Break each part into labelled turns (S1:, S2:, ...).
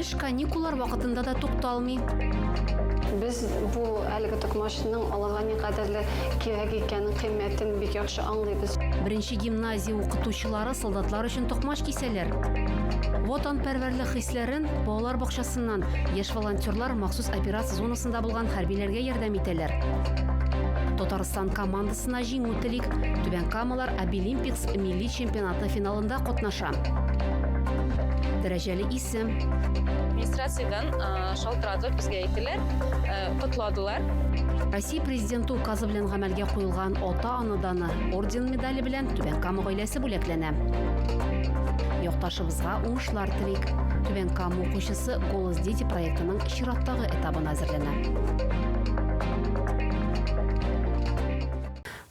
S1: Эш каникуллар вакытында да тукталмый. Без бу әлеге токмачның аларга никадәрле кирәк икәнен, кыйммәтен бик яхшы аңлыйбыз. Беренче гимназия укытучылары солдатлар өчен токмач кисәләр. Ватанпәрвәрлек хисләрен балалар бакчасыннан яшь волонтерлар махсус операция зонасында булган хәрбиләргә ярдәм итәләр. Татарстан командасына Җиңү телик, Түбән Камалар Обилимпикс милли чемпионаты финалында катнаша. Дәрәҗәле исем. Администрациядән шалтыратып безгә әйттеләр, котладылар. Россия Президенты указы белән гамәлгә куелган Ата-ана даны орден медале белән Түбән Кама гаиләсе бүләкләнә. Якташыбызга уңышлар телик. Түбән Кама укучысы Голос дети проектының чираттагы этабына әзерләнә.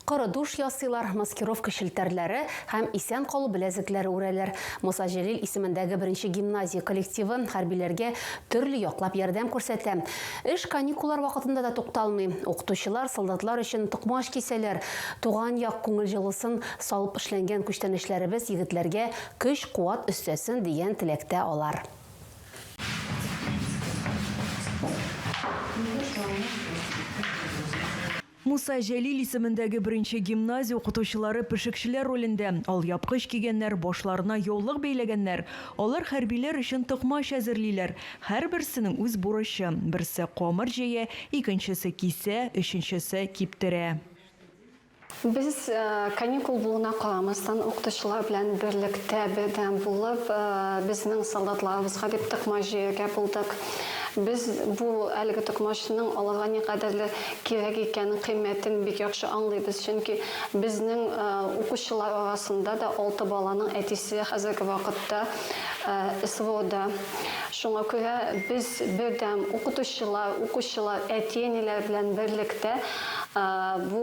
S1: Коры душ ясыйлар, маскировка челтәрләре һәм исән калу беләзекләре үрәләр. Муса Җәлил исемендәге беренче гимназия коллективы хәрбиләргә төрле яклап ярдәм күрсәтә. Эш каникуллар вакытында да тукталмый. Укытучылар солдатлар өчен токмач кисәләр. Туган як күңел җылысын салып эшләнгән күчтәнәчләребез егетләргә көч-куат өстәсен, дигән теләктә алар. Муса Җәлил исемендәге беренче гимназия укытучылары пешекчеләр ролендә, алъяпкыч кигәннәр, башларына яулык бәйләгәннәр. Алар хәрбиләр өчен токмач әзерлиләр. Һәрберсенең үз бурычы, берсе камыр җәя, икенчесе кисә, өченчесе киптерә. Без каникул булуына карамастан, укытучылар белән берлектә, бердәм булып, безнең солдатларыбызга дип токмач җыярга булдык. Без бу әлеге токмачның аларга никадәрле кирәк икәнен, кыйммәтен бик яхшы аңлыйбыз, чөнки безнең укучылар арасында да алты баланың әтисе хәзерге вакытта СВОда. Шуңа күрә без бердәм, укытучылар, укучылар, әти-әниләр белән берлектә, Бу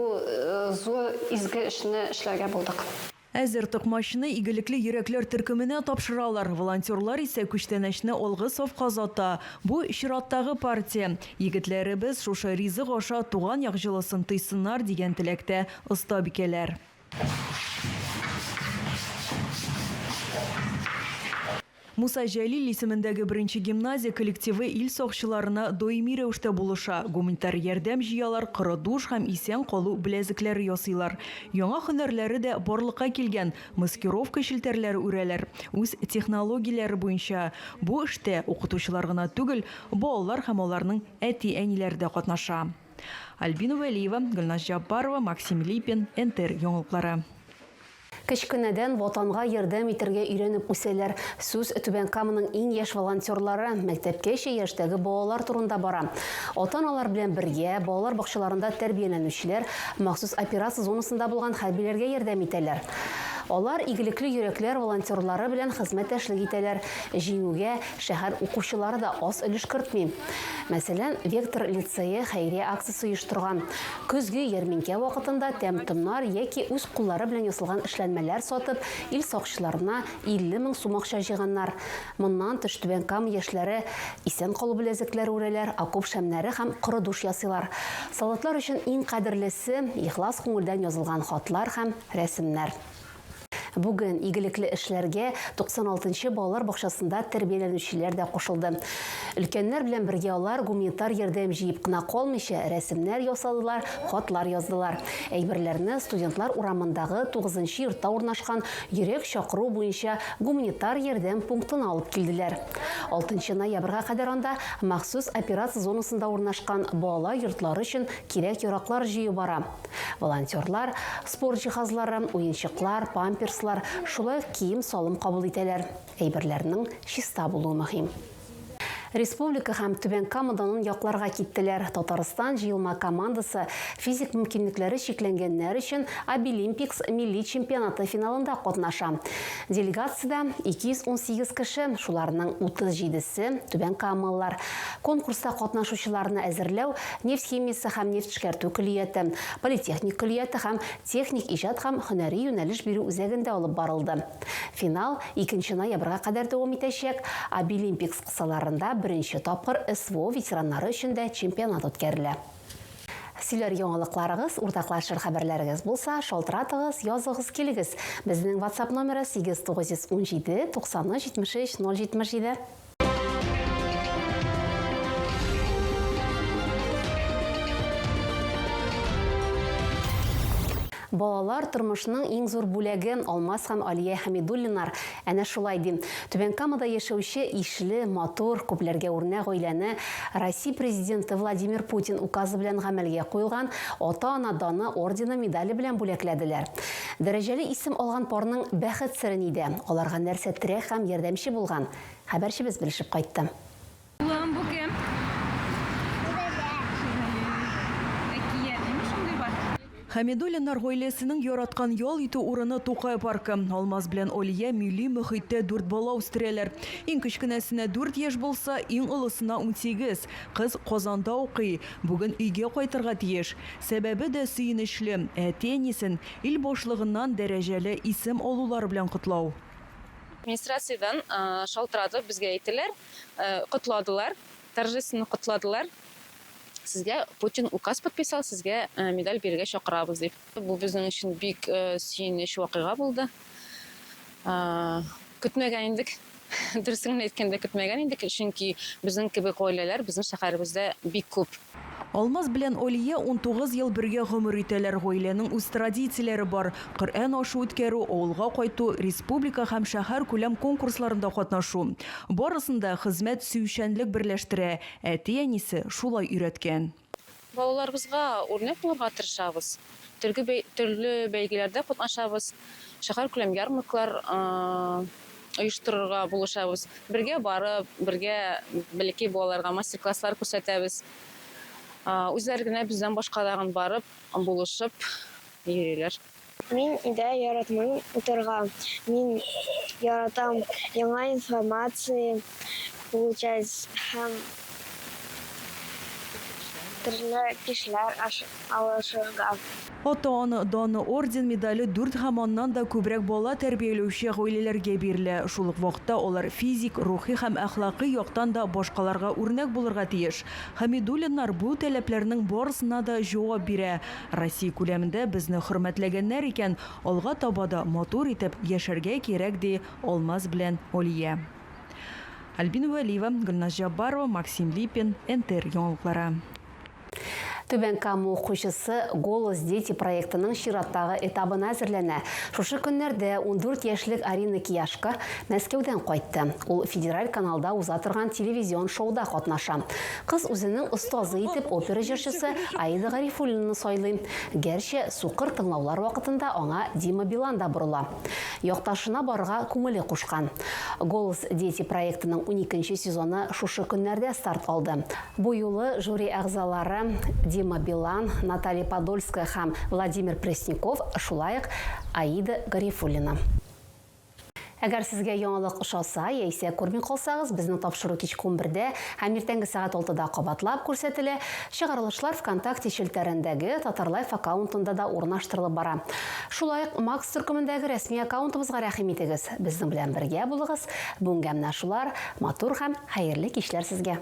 S1: зур изге эшне эшләргә булдык. Әзер токмачны игелекле йөрәкләр төркеменә тапшыралар, волонтерлар исә күчтәнәчне алгы сафка озата. Бу, чираттагы партия. Егетләребез шушы ризык аша туган як җылысын тойсыннар, дигән теләктә остабикәләр. Муса Җәлил исемендәге беренче гимназия коллективы ил сакчыларына даими рәвештә булыша, гуманитар ярдәм җыялар, коры душ һәм исән калу беләзекләре ясыйлар. Яңа һөнәрләре дә барлыкка килгән, маскировка челтәрләре үрәләр. Үз технологияләре буенча бу эштә укытучылар гына түгел, балалар һәм аларның әти-әниләре дә катнаша. Альбина Вәлиева, Гөлназ Җаббарова, Максим Липин, НТР яңалыклары. Кечкенәдән Ватанга ярдәм итәргә өйрәнеп үсәләр. Сүз Түбән Каманың иң яшь волонтерлары, мәктәпкәчә яшьтәге балалар турында бара. Ата-аналар белән бергә, балалар бакчаларында тәрбияләнүчеләр махсус операция зонасында булган хәрбиләргә ярдәм итәләр. Алар Игелекле йөрәкләр волонтерлары белән хезмәттәшлек итәләр. Җиңүгә шәһәр укучылары да аз өлеш кертми. Мәсәлән, Вектор лицее хәйрия акциясе оештырган. Көзге ярминкә вакытында тәм-томнар яки үз куллары белән ясалган эшләнмәләр сатып, ил сакчыларына 50 мең сум акча җыйганнар. Моннан тыш, Түбән Кама яшьләре исән калу беләзекләре үрәләр, окоп шәмнәре һәм коры душ ясыйлар. Солдатлар өчен иң кадерлесе, ихлас күңелдән язылган хатлар һәм рәсемнәр. Бүген игелекле эшләргә 96 нчы балалар бакчасында тәрбияләнүчеләр дә кушылды. Өлкәннәр белән бергә алар гуманитар ярдәм җыеп кына калмыйча, рәсемнәр ясадылар, хатлар яздылар. Әйберләрне Студентлар урамындагы тугызынчы йортта урнашкан йөрәк чакыру буенча гуманитар ярдәм пунктына алып килделәр. Алтынчы ноябрьгә кадәр анда махсус операция зонасында урнашкан балалар йортлары өчен кирәк-яраклар җыю бара. Волонтерлар спорт җиһазлары, уенчыклар, памперслар, шулай ук кием-салым кабул итәләр. Әйберләрнең чиста булуы мөһим. Республика һәм Түбән Камадан якларга киттеләр. Татарстан җыелма командасы физик мөмкинлекләре чикләнгәннәр өчен Обилимпикс милли чемпионаты финалында катнаша. Делегациядә 218 кеше, шуларның 37 се, түбәнкамалылар. Конкурста катнашучыларны әзерләү Нефть химиясе һәм нефть эшкәртү көллияте, политехник көллияте һәм техник иҗат һәм һөнәри юнәлеш бирү үзәгендә алып барылды. Финал икенче ноябрьгә кадәр дәвам итәчәк, Обилимпикс кысаларында беренче тапкыр СВО ветераннары өчен дә чемпионат үткәрелә. Сөйләр яңалыкларыгыз, уртаклашыр хәбәрләрегез булса, шалтыратыгыз, языгыз, килегез! Безнең WhatsApp номеры, 8 917 93 73 077. Балалар тормышның иң зур бүләге Алмаз һәм Алия Хәмидуллинар әнә шулай ди. Түбән Камада яшәүче ишле, матур, күпләргә үрнәк гаиләне Россия президенты Владимир Путин указы белән гамәлгә куелган Ата-ана даны ордены медале белән бүләкләделәр. Дәрәҗәле исем алган парның бәхет сере нидә? Аларга нәрсә терәк һәм ярдәмче булган? Хәбәрчебез белешеп кайтты. Улым, бу кем? Бу Дәдә. Әкият, нигә шундый бар? Хәмидуллиннар гаиләсенең яраткан ял итү урыны, Тукай паркы. Алмаз белән Алия милли мөхиттә дүрт бала үстерәләр. Иң кечкенәсенә дүрт яшь булса, иң олысына унсигез. Кыз Казанда укый. Бүген өйгә кайтырга тиеш. Сәбәбе дә сөенечле, әти-әнисен ил башлыгыннан дәрәҗәле исем алулары белән котлау. Администрациядән шалтыратып безгә әйттеләр, котладылар, торжественно котладылар. Сезгә Путин указ подписал, сезгә медаль бирергә чакырабыз дип. Бу безнең өчен бик сөенеч вакыйга булды. Көтмәгән идек. Дөресен генә әйткәндә, көтмәгән идек, чөнки безнең кебек гаиләләр безнең шәһәребездә бик күп. Алмаз белән Алия унтугыз ел бергә гомер итәләр, гаиләнең үз традицияләре бар, Коръән ашы үткәрү, авылга кайту, республика һәм шәһәркүләм конкурсларында катнашу. Барысын да хезмәт сөючәнлек берләштерә, әти-әнисе шулай өйрәткән. Балаларыбызга үрнәк булырга тырышабыз, төрге төрле бәйгеләрдә катнашабыз, шәһәркүләм ярмаркалар оештырырга булышабыз. Бергә барып, бергә бәләкәй балаларга мастер-класслар күрсәтәбез. Үзләре генә бездән башка тагын барып, булышып йөриләр. Мин дә яратмыйм утырырга. Мин яратам яңа информация получать һәм Төрле кешеләр алышырга. Атан, дан, орден, медале дүрт һәм аннан да күбрәк бала тәрбияләүче гаиләләргә бирелә. Шул ук вакытта алар физик, рухи һәм әхлакый яктан да башкаларга үрнәк булырга тиеш. Хәмидуллиннар бу таләпләрнең барысына да җавап бирә. Россия күләмендә безне хөрмәтләгәннәр икән, алга таба да матур итеп яшәргә кирәк, ди Алмаз белән Алия. Альбина Вәлиева, Гөлназ Җаббарова, Максим Липин, НТР яңалыклары. Түбән Кама укучысы Голос дети проектының чираттагы этабына әзерләнә. Шушы көннәрдә ундүрт яшьлек Арина Кияшко Мәскәүдән кайтты. Ул федераль каналда уза торган телевизион шоуда катнаша. Кыз үзенең остазы итеп опера җырчысы Аида Гарифуллинаны сайлый. Гәрчә сукыр тыңлаулар вакытында аңа Дима Билан да борыла. Якташына барырга күңеле кушкан. Голос дети проектының уникенче сезоны шушы көннәрдә старт алды. Бу юлы жюри әгъзалары Дима Билан, Наталья Подольская һәм Владимир Пресняков, шулай ук Аида Гарифуллина. Әгәр сезгә яңалык ошаса яисә күрми калсагыз, безнең тапшыру кичке унбердә һәм иртәнге сәгать алтыда кабатлап күрсәтелә. Чыгарылышлар ВКонтакте челтәрендәге Татарлайф аккаунтында да урнаштырылып бара. Шулай ук Макс төркемендәге рәсми аккаунтыбызга рәхим итегез, безнең белән бергә булыгыз, бүгенгә менә шулар, матур һәм хәерле кичләр сезгә!